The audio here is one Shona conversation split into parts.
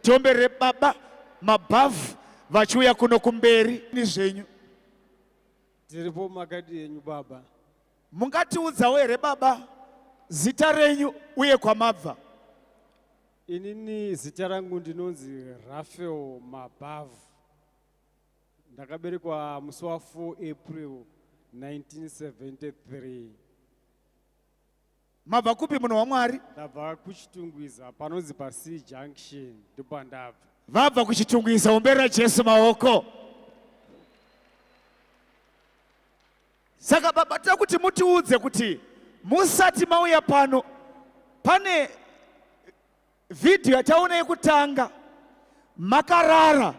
Jombe rebaba mabhavhu vachiuya kuno kumberi ni zvenyu. Dziripo makadi yenyu baba. Mungatiudzawo here baba zita renyu uye kwamabva? Inini zita rangu ndinonzi Raphael Mabhavu. Ndakaberekwa musi wa 4 April 1973. Mabva kupi munhu waMwari? Ndabva kuChitungwiza panonzi paSea Junction ndopandabva. Vabva kuChitungwiza omberera Jesu maoko. Saka baba tira kuti mutiudze kuti musati mauya pano pane Vhidhiyo yataona yekutanga makarara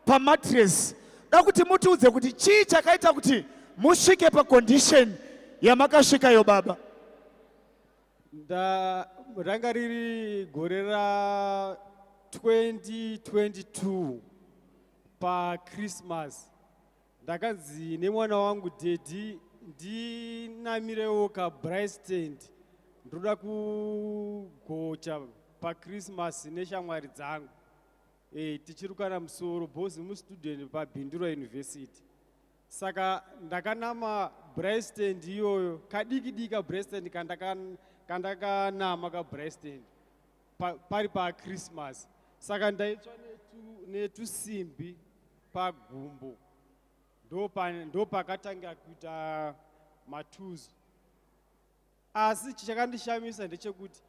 pamatiresi. Da kuti mutiudze kuti chii chakaita kuti musvike pakondisheni yamakasvikayo baba? Nda, ranga riri gore ra 2022 pachristmas Ndakanzi nemwana wangu daddy ndinamirewo kabraai stand ndoda kugocha pachristmas neshamwari dzangu e, tichirukana musoro bos mustudent pabhindura university saka ndakanama braai stand iyoyo kadiki diki kabraai stand kandakanama kabraai stand pa, pari pachristmas saka ndaitsva netusimbi netu pagumbo ndopakatanga ndo kuita matuzu asi chakandishamisa ndechekuti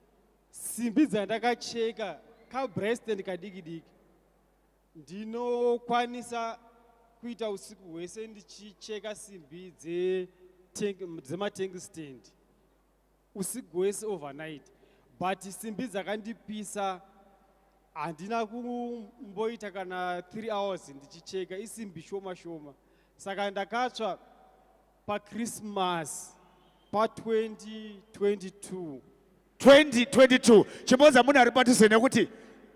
simbi dzandakacheka kabresten kadiki diki ndinokwanisa kuita usiku hwese ndichicheka simbi dzematank stand usiku hwese overnight but simbi dzakandipisa handina kumboita kana three hours ndichicheka isimbi shoma shoma saka ndakatsva pachristmas pa2022 2022 chimboza munhu ari patize nekuti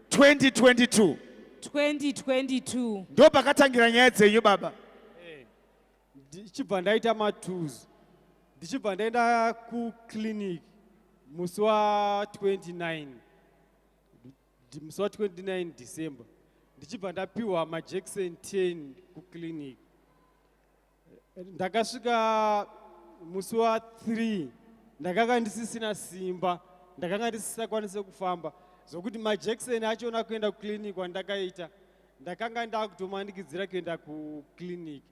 2022 2022 ndo pakatangira nyaya dzenyu baba ndichibva ndaita matuzu ndichibva ndaenda kuclinic musi wa29 musi wa29 december ndichibva ndapiwa majection 10 kuclinic ndakasvika musi wa3 ndakanga ndisisina simba ndakanga ndisisakwanise kufamba zvokuti majection achona kuenda kuclinic kwandakaita ndakanga ndaakutomanikidzira kuenda kuclinic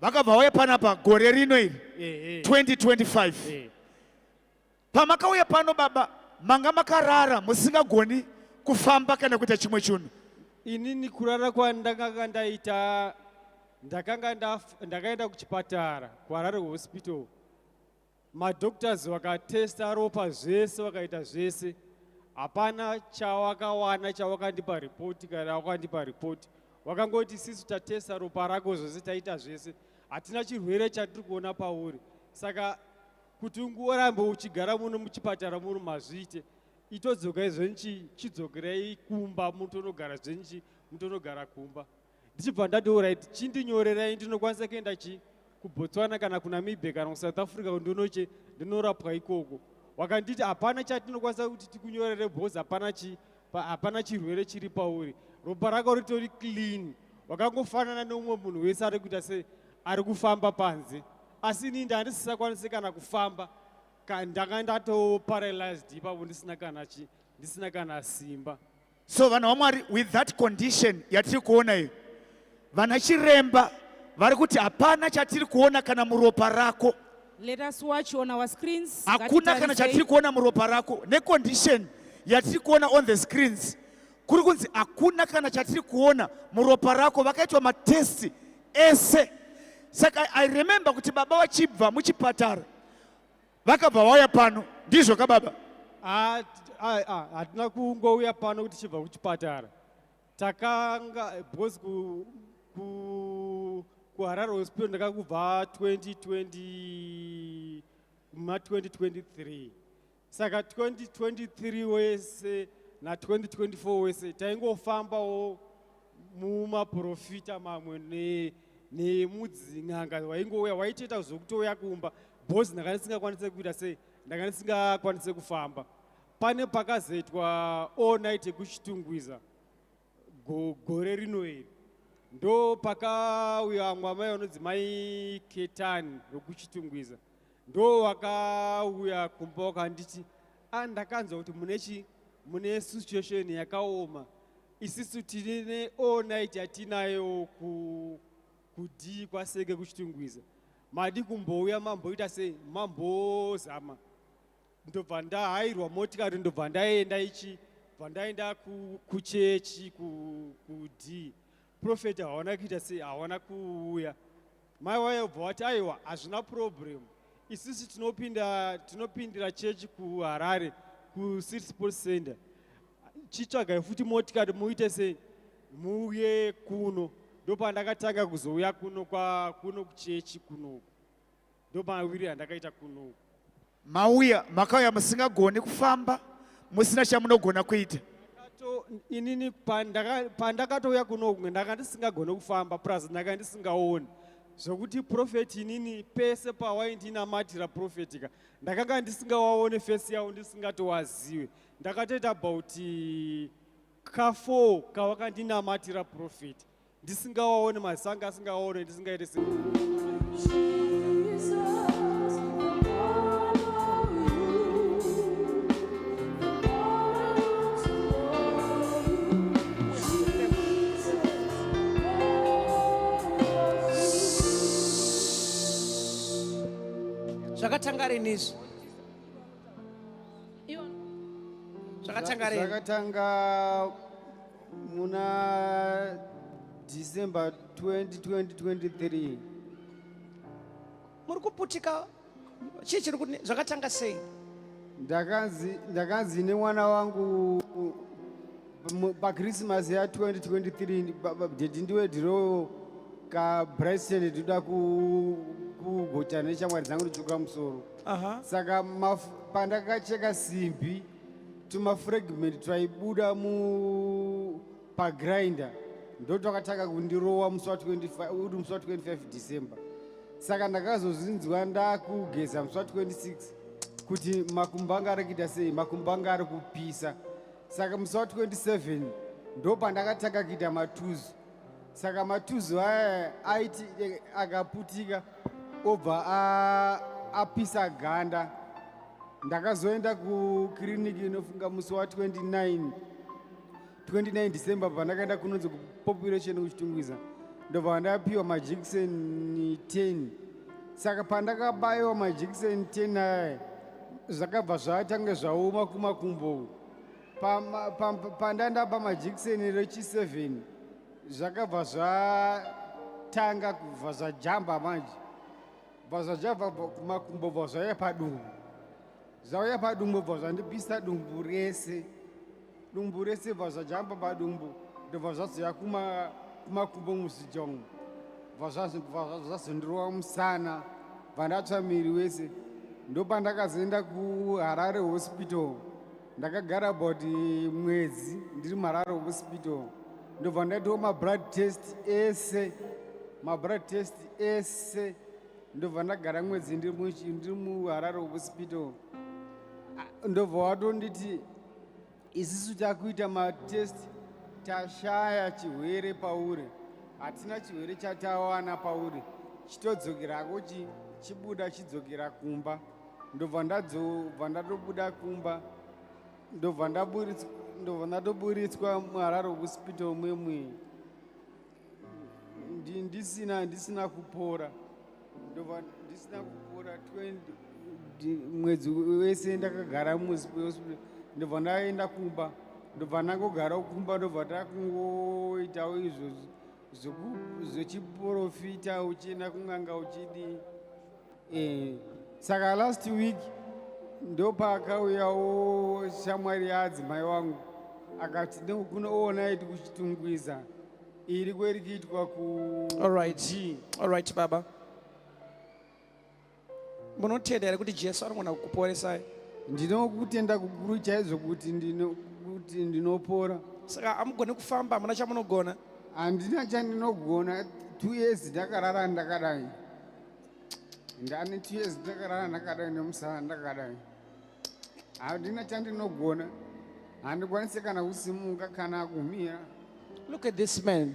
vakabva vauya panapa gore rino iri 2025 eh, eh. pamakauya pano baba manga makarara musingagoni kufamba kana kuita chimwe chinhu inini kurara kwandakanga ndaita ndakanga ndakaenda kuchipatara kuharare hospital Madoctors vakatesta ropa zvese vakaita zvese hapana chawakawana chawakandipa report kana wakandipa report wakangoti sisi tatesta ropa rako zvese taita zvese hatina chirwere chatiri kuona pauri saka kuti ungorambe uchigara muno muchipatara muno mazviite itodzoka izvenichi chidzokerei kumba mutonogara zvenichi mutonogara kumba ndichibva ndati orit chindinyorerai ndinokwanisa kuenda chi kubotswana kana kunamibia kana kusouth africa kundonoche ndinorapwa ikoko wakanditi hapana chatinokwanisa kuti tikunyorere bcause hapana chi hapana chirwere chiri pauri ropa rako ritori clean wakangofanana neumwe munhu wese ari kuita se ari kufamba panze asi inii ndandisisakwanisi kana kufamba ndanga ndatoparalysed ipapo ndisina kana chi ndisina kana simba so vanhu vamwari with that condition yatiri kuona iyo vana chiremba vari kuti hapana chatiri kuona kana muropa rako Let us watch on our screens. hakuna kana chatiri kuona muropa rako necondition yatiri kuona on the screens kuri kunzi hakuna kana chatiri kuona muropa rako vakaitwa matesti ese saka i remember kuti baba vachibva muchipatara Vakabva vauya pano. Ndizvo ka baba? Ah, ah, ah, hatina kungouya pano kuti chibva kuchipatara. Takanga because ku ku kuHarare Hospital ndakakubva 2020 ma 2023. Saka 2023 wese na 2024 wese taingofambawo mumaporofita mamwe nemudzin'anga waingouya waitoita zvokutouya kumba bhozi ndanga ndisingakwanise kuita sei ndanga ndisingakwanise kufamba pane pakazoitwa all night yekuchitungwiza gore rino iri ndo pakauya vamwe amai vanonzi mai ketani vekuchitungwiza ndo wakauya kumba wakanditi a ah, ndakanzwa kuti mune chi mune situation yakaoma isisu tine all night yatinayo ku kudii kwaseke kuchitungwiza madi kumbouya mamboita sei mambozama ndobva ndahairwa motikari ndobva ndaenda ichi bva ndaenda kuchechi kudii prophet hawana kuita sei hawana kuuya mai waye ubva wati aiwa hazvina problem isisi tinopinda tinopindira chechi kuharare kucity sports center chitsvagai futi motikati muite sei muuye kuno ndopandakatanga kuzouya kuno kwakuno kuchechi kunoku ndomawiri andakaita kuno mauya makauya musingagoni kufamba musina chamunogona kuita inini pandakatouya kuno kumwe ndanga ndisingagoni kufamba plus ndanga ndisingaoni zvokuti profeti inini pese pawaindinamatira profeti ka ndakanga ndisingawaone fesi yavo ndisingatowaziwe ndakatoita about kafour kawakandinamatira profeti ndisingawaone masanga asingawaone ndisingaite si zvakatanga rini izvi zvakatanga rini zvakatanga muna december 2023 muri kuputika chii chiri kuti zvakatanga sei ndakanzi ndakanzi nemwana wangu pakrisimasi ya 2023 dedi ndiwe ndiroyo kabryston ndinoda kugotana neshamwari dzangu ndichuka musoro saka pandakacheka simbi tumafragment twaibuda mu pagrinder ndo twakatanga kundirowa musi wa 25 december saka ndakazozvinzwa ndakugeza musi wa 26 kuti makumbo anga ari kuita sei makumbo anga ari kupisa saka musi wa 27 ndo pandakatanga kuita matuzu saka matuzu aya aiti eh, akaputika obva apisa ganda ndakazoenda kukiriniki inofunga musi wa 29 29 december pandakaenda kunonzi kupopulation kuchitungwiza ndobva ndapiwa majekiseni 10 saka pandakabayiwa majekiseni 10 aya zvakabva zvatange zvaoma kumakumbo pandanda pamajekiseni rechi 7 zvakabva zvatanga kubva zvajamba manje bva zvajamba kumakumbo bva zvauya padumbu zvauya padumbu bva zvandipisa dumbu rese dumbu rese bva zvajamba padumbu ndobva zvazoya kumakumbo muzijongo bva zvazondirova musana bva ndatsva miri wese ndopandakazoenda kuharare hospital ndakagara about mwedzi ndiri mararo hospital ndobva ndaitawo mablood test ese mablood test ese ndobva ndagara mwedzi ndiri muharare hospital ndobva watonditi isisu takuita matest tashaya chirwere pauri hatina chirwere chatawana pauri chitodzokera ko chibuda chidzokera kumba ndobva ndadzobva ndatobuda kumba ndobva ndobva ndatoburitswa muhararo hospital mwemwe ndisina ndisina kupora ndobva ndisina kupora 20 mwedzi wese ndakagara muhospital ndobva ndaenda kumba ndobva ndangogarawo kumba ndobva takungoitawo izvozvi zvechiporofita uchienda kun'anga uchidi eh, saka last week ndopaakauyawo shamwari yaadzimai wangu akati ndokuna oona iti kuchitungwiza iri kweri kuitwa ku alright alright baba munotenda here kuti jesu anogona kukuporesai ndinokutenda kukuru chaizvo kuti kuti ndinopora saka amugone kufamba hamuna chamunogona handina chandinogona two years ndakarara ndakadai ndane two years ndakarara ndakadai nemusara ndakadai handina chandinogona handikwanise kana kusimuka kana kumira look at this man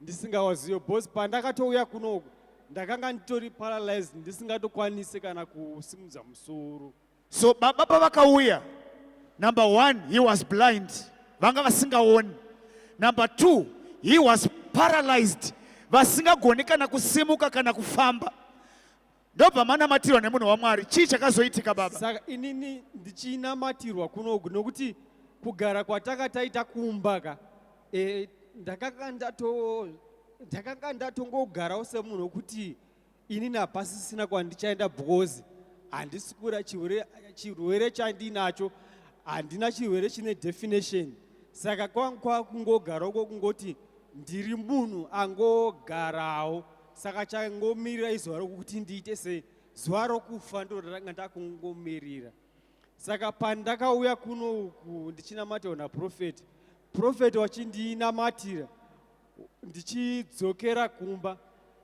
ndisingawazive bcause pandakatouya kunoku ndakanga nditori paralyzed ndisingatokwanise kana kusimudza musoro so baba pavakauya number one he was blind vanga vasingaoni number two he was paralyzed vasingagoni kana kusimuka kana kufamba ndobva manamatirwa nemunhu wamwari chii chakazoitika baba saka inini ndichinamatirwa kunoku nokuti kugara kwatanga taita kumba ka e, ndakanga ndato ndakanga ndatongogarawo semunhu wekuti inini hapasisina kwandichaenda because handisi kura chirwere chandiinacho handina chirwere chine definition saka kwanga kwakungogarawo kwokungoti ndiri munhu angogarawo saka changomirira izuva rokuti ndiite sei zuva rokufa ndo ndanga ndakungomirira saka pandakauya kuno uku ndichinamatirwa naprofeti profeti wachindinamatira ndichidzokera kumba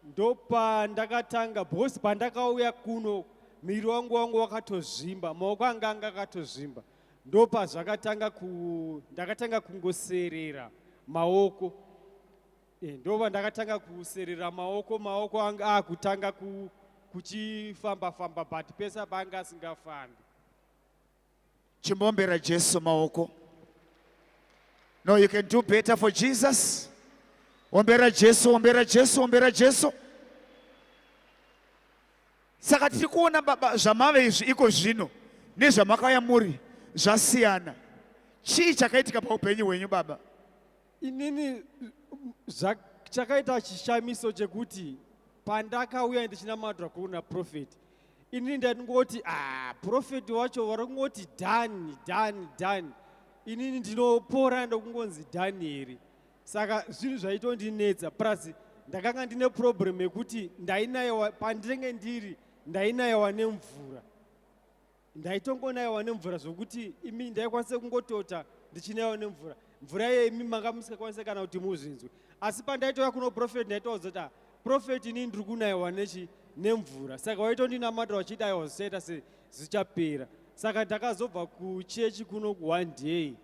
ndopandakatanga because pandakauya kuno miri wangu wangu wakatozvimba maoko anga anga akatozvimba ndopazvakatanga ku ndakatanga kungoserera maoko Eh, ndova ndakatanga kuserera maoko maoko anga akutanga ah, ku, kuchifamba famba but pese apa anga asingafambi chimbombera jesu maoko no you can do better for jesus ombera jesu ombera jesu ombera jesu saka tiri kuona baba zvamave izvi iko zvino nezvamakauya muri zvasiyana chii chakaitika paupenyu hwenyu baba inini zva, chakaita chishamiso chekuti pandakauya ndichinamatwa kuri naprofeti inini ndaingoti ah, profeti wacho vari kungoti dhani dhani dhani inini ndinopora ndokungonzi dhanieri saka zvinhu zvaitondinetsa plus ndakanga ndine problem yekuti ndainayewa pandinenge ndiri ndainayewa nemvura ndaitongonaiwa nemvura zvokuti imi ndaikwanisa kungotota ndichinaiwa nemvura mvura iye imi manga musikakwanisa kana kuti muzvinzwe asi pandaitouya kuno profeti ndaitoudza kuti ah, profeti inii ndiri kunaiwa nechi nemvura saka waitondinamata wachiti aiwa zvichaita se zvichapera saka ndakazobva kuchechi kuno kuone day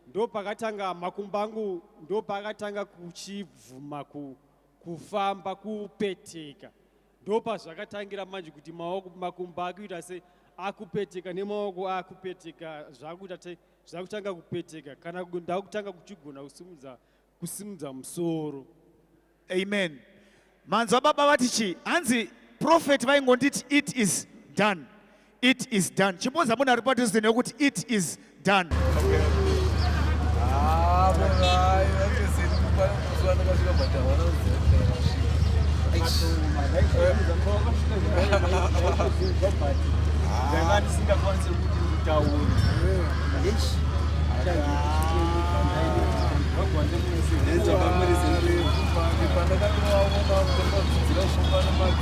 ndopakatanga makumba angu ndopaakatanga kuchibvuma kufamba kupeteka ndopazvakatangira manje kuti maoko makumbo akuita se akupeteka nemaoko akupeteka zvakuita te zvakutanga kupeteka kana ndakutanga kuchigona kusimudza kusimudza musoro amen manzwa baba vati chii hanzi profet vaingonditi it is done It is done. Chimboza munhu ari padhuze nekuti it is done.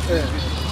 Yeah.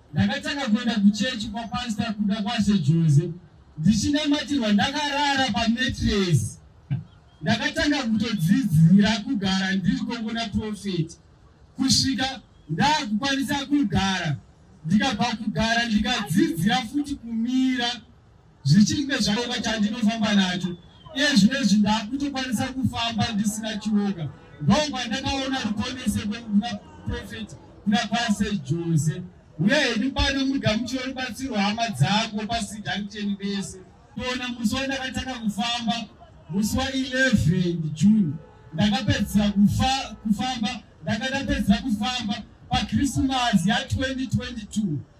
Ndakatanga kuenda kuchechi kwapasita kuda kwashe Jose ndichinamatirwa ndakarara pametresi. Ndakatanga kutodzidzira kugara ndiri kongona profeti kusvika ndakukwanisa kugara ndikabva kugara ndikadzidzira futi kumira zvichinge zvareva chandinofamba nacho iye zvinezvi ndakutokwanisa kufamba ndisina chioka ndokwa ndakaona rukonese kwekuna profeti kuna kwase jose uye hedu pano mugamuchiro rubatsiro hama dzako pasijankcheni bese toona musi wandakatanga kufamba musi wa 11 june ndakapedzisa kufamba ndakatapedzisa kufamba pakrismasi ya 2022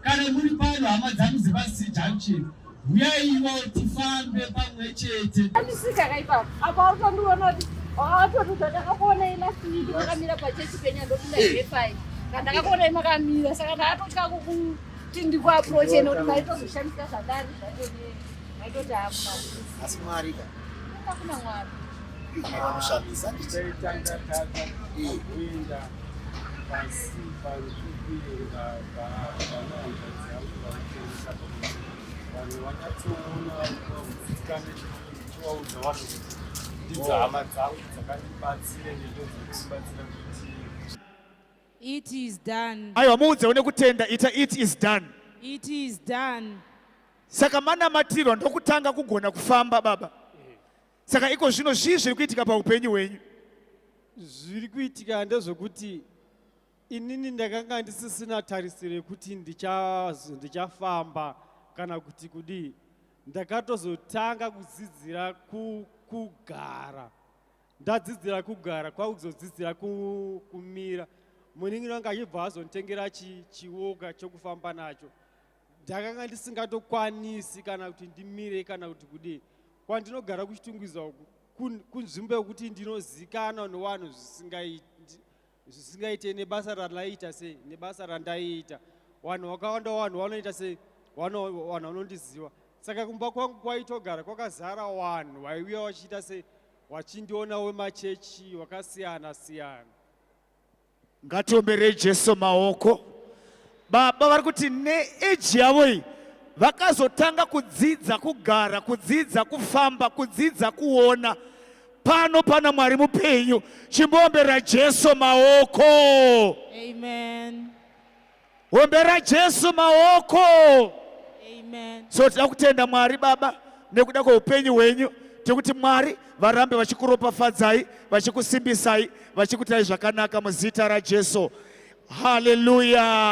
Kana muri pano hama dzangu dzepasi junction huyaiwo tifambe pamwe chete. Andisika kaipa apa utondiona kuti watotuta ndakakuona ilasiki makamira pachechi penya ndopinda hepfai eh. kana ndakakuona imakamira saka ndakatotya kukuti ndikuaproche nekuti maitozoshandisa zvandari zvaitoti maitoti aasi mwari ka hakuna mwari vanoshandisa vanhu vakatoona vaudza vanhu kuti ndidzo hama dzangu dzakandibatsire nendo dzekubatsira kuti it is done aiwa muudze une kutenda ita it is done it is done saka manamatirwa ndokutanga kugona kufamba baba saka iko zvino zvii zviri kuitika paupenyu hwenyu zviri kuitika ndezvekuti inini ndakanga ndisisina tarisiro yekuti ndichafamba kana kuti kudii ndakatozotanga kudzidzira kugara ndadzidzira kugara kwakuzodzidzira kumira munin'ina wanga achibva azonditengera chiwoka chokufamba nacho ndakanga ndisingatokwanisi kana kuti ndimire kana kuti kudii kwandinogara kuchitungwiza uku kunzvimbo yekuti ndinozikanwa newanhu zvisingaite nebasa randaiita sei nebasa randaiita vanhu vakawanda vanhu vanoita sei vanhu vanondiziva saka kumba kwangu kwaitogara kwakazara vanhu vaiuya vachiita sei vachindiona wemachechi wakasiyana siyana Ngatiomberei Jesu maoko. Baba vari kuti neeji yavo iyi vakazotanga kudzidza kugara, kudzidza kufamba, kudzidza kuona. Pano pana Mwari mupenyu, chimboomberera Jesu maoko. Amen. Ombera Jesu maoko. Amen. So tinoda kutenda Mwari Baba nekuda kweupenyu hwenyu tekuti Mwari varambe vachikuropafadzai vachikusimbisai vachikutai zvakanaka muzita raJesu. Hallelujah.